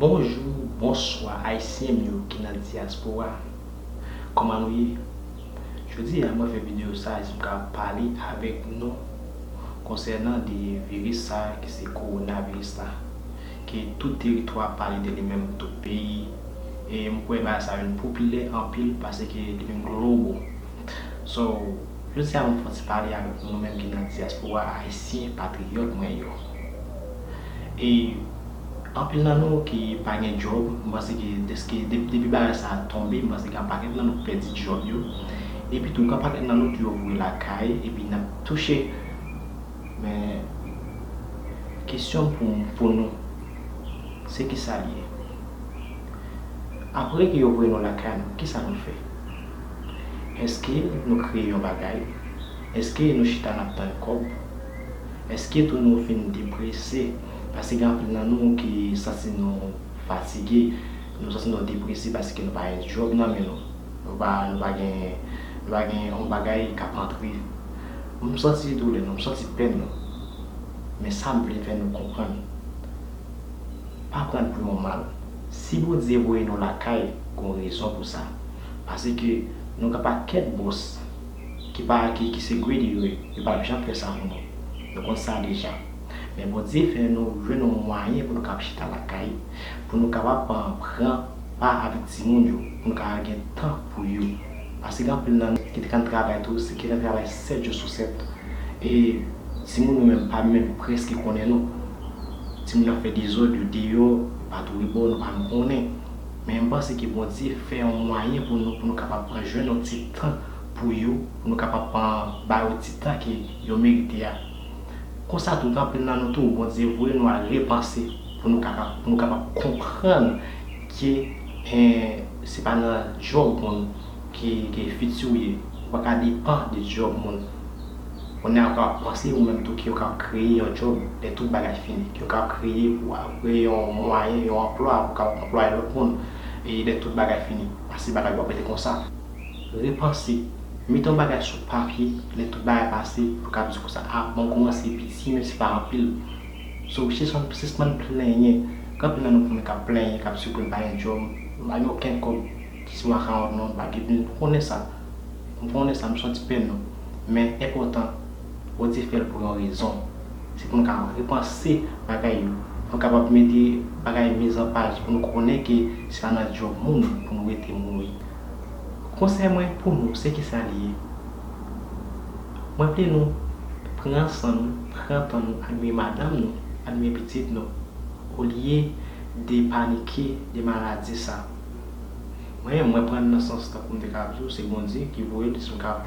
Bonjou, bonswa ayisyen m yo ki nan dyaspora Kòman nou ye? Jodi a mwen fè videyo sa a jis m ka pale avèk nou konsènan de viris sa a ki se kowonaviris la ke tout teritwa pale de li menm tout peyi e m kwè bagay sa a vin popilè anpil paske li vin global so Jodi a mwen pran ti pale avèk nou nou menm ki nan diaspora ayisyen patriyòt mwen yo. E anpil nan nou ki pa gen djòb, mwen panse ke deske depi bagay sa tonbe mwen panse gen yon pakèt nan nou ki pèdi djòb yo. Epi tou gen yon pakèt nan nou ki ouvri lakay epi nap touche. Men kesyon pou pou nou se kisa li ye? Apre ke yo voye nou lakay nou kisa nou fè? Eske nou kreye yon bagay? Eske nou chita nap tann kòb? Eske tou nou vin deprese? Paske gen anpil nan nou ki santi nou fatige, nou santi nou deprese paske nou pa gen djòb nan men nou. Nou pa nou pa gen nou pa gen yon bagay kap antre. M santi doulè nou, m santi pèn nou. Men sam vle fè nou konprann, pa pran l pou yon mal. Si Bondye voye nou lakay gon rezon pou sa. Pase ke nou gen pakèt bòs ki pa akeyi ki se greedy yo ye, yo pap janm fè sa pou nou. Nou konn sa deja. Men Bondye fè nou jwenn yon mwayen pou nou kab chita lakay, pou nou kapab pran pa avèk timoun yo, pou nou kapab gen tan pou yo. Pase gen anpil nan nou ki te konn travay tou, se ki nan travay 7 jou sou 7. E timoun yo menm pa menm prèske konnen nou. Timoun ap fè dezòd yo deyò, yo pa tou rebò, nou pa menm konnen. Men m panse ke Bondye fè yon mwayen pou nou, pou nou kapab pran jwenn yon ti tan pou yo, pou nou kapab pran ba yo ti tan ke yo merite a. Konsa tout, anpil nan nou tou, Bondye voye nou al repanse pou nou kapab, pou nou kapab konprann ke en se pa nan djòb moun ke, ke fiti ou ye. Ou pa ka depan de djòb moun. Kounye a pa panse ou menm tou ke yo kab kreye yon djòb lè tout bagay fini, ke yo kab kreye pou kreye yon mwayen, yon anplwa pou kab anplwaye lòt moun e lè tout bagay fini. Pase bagay yo ap rete konsa. Repanse, mete yon bagay sou papye lè tout bagay pase pou kab di konsa a bon koumanse piti menm si pa anpil. So sispann plenyen, gen anpil nan nou konnen kap plenyen kap di ke yo pa gen djòb, yo pa gen okenn kòb, di se makawon non, bagibnl, nou konnen sa. M pran yon lè sa m santi pèn nou, men enpòtan Bondye fè l pou yon rezon. Se pou nou ka repanse bagay yo, pou nou kapab mete bagay miz an paj, pou nou konnen ke se pa nan djòb moun pou nou rete mouri. Konsèy mwen pou nou se kisa li ye? Mwen vle nou pran san nou, pran tan nou admire madanm nou, admire pitit nou olye de panike de maladi sa. Mwen, mwen prann nan sans tankou m te ka ap di w se Bondye ki voye l si m ka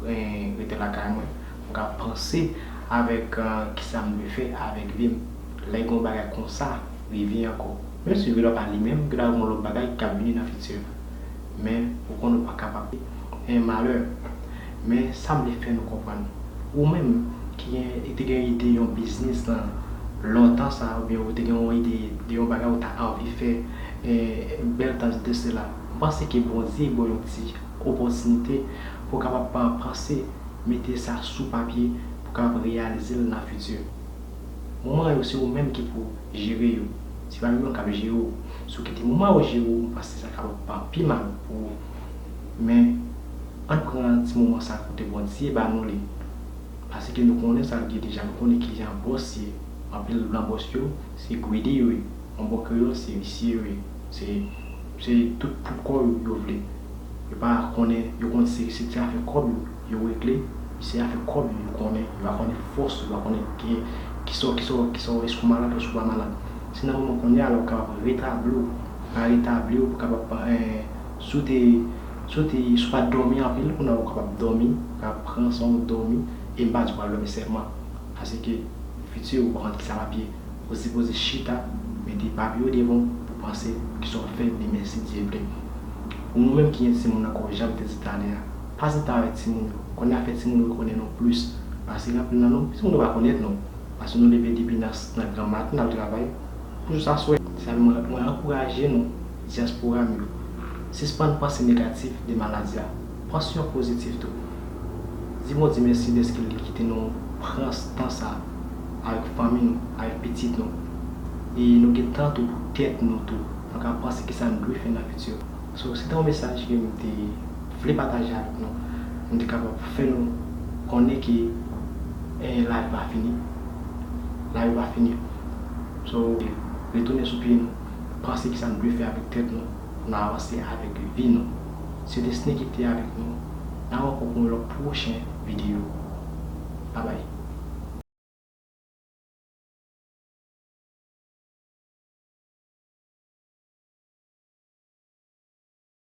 rete lakay mwen, m ka panse avèk kisa m dwe fè avèk vi m lè gen yon bagay konsa rive ankò. Menm si vre l ap ale menm gen ta gen yon lòt bagay ki ka vini nan fiti a. Men, ou konn ou pa kapab di e malè. Men, sa m vle fè nou konprann, ou menm ki gen e te gen ide yon biznis nan lontan sa oubyen ou te gen yon ide de yon bagay ou ta anvi fè, Bel tach de cela. M panse ke Bondye baw yon ti opòtinite pou w kapab panse mete sa sou papye pou w kapab reyalize l nan fiti. Moman yo se ou menm ki pou jere yo. Se pa yo menm kap jere w. Si w kite moman yo jere w, m panse sa kapab pa pi mal pou ou. Men, ann pran ti moman sa kote Bondye ba nou li. Pase ke nou konnen sa l gen deja. Nou konnen kijan bòs ye. Anpil nan bòs yo. Se greedy wi, an bon kreyol se visye wi, se tout pou kò yo, yo vle. Yo pa konnen, yo konn se ti afè kòb yo, yo regle, se afè kòb yo, yo konnen, yo va konnen fòs ou, yo va konnen kisa w, èske ou malad èske ou pa malad. Se nan moman konnya la ou kapab retabli w, pa retabli w pou kapab, si w te, si w te, si w pa dòmi anpil, kounye a ou kapab dòmi, ou kapab pran san w dòmi, e m pa di w pa dòmi sèlman. Paske futur ou pa konn kisa lap ye ou sipoze chita mete papier ou devan w pou panse kisa wap fè demen si Dye vle. Pou nou menm ki gen timoun nan kò janm te di talè a pa sita avèk timoun yo konn afè timoun yo konnen nou plus pase anpil nan nou timoun yo pa konèt nou paske nou leve depi nan nan gran maten nap travay pou jous a swè. Sa fè mwen ankouraje nou diaspora m yo sispann panse negatif de maladie a Pansyon pozitif tou. Di Bondye mèsi dèske li kite nou pran tan sa avèk fanmi nou, avèk pitit nou. E nou gen tan tou pou tèt nou tou. Nou ka panse kisa nou dwe fè nan fiti. So, se te yon mesaj ke m te vle pataje avèk nou pou m te kapab fè nou konnen ke lavi pa fini. Lavi pa fini. So, retounen sou pye nou, panse kisa nou dwe fè avèk tèt nou pou nou avanse avèk vi nou. Se Desne ki te avèk nou. Nan rankon pou yon lòt pwochen videyo. Babay.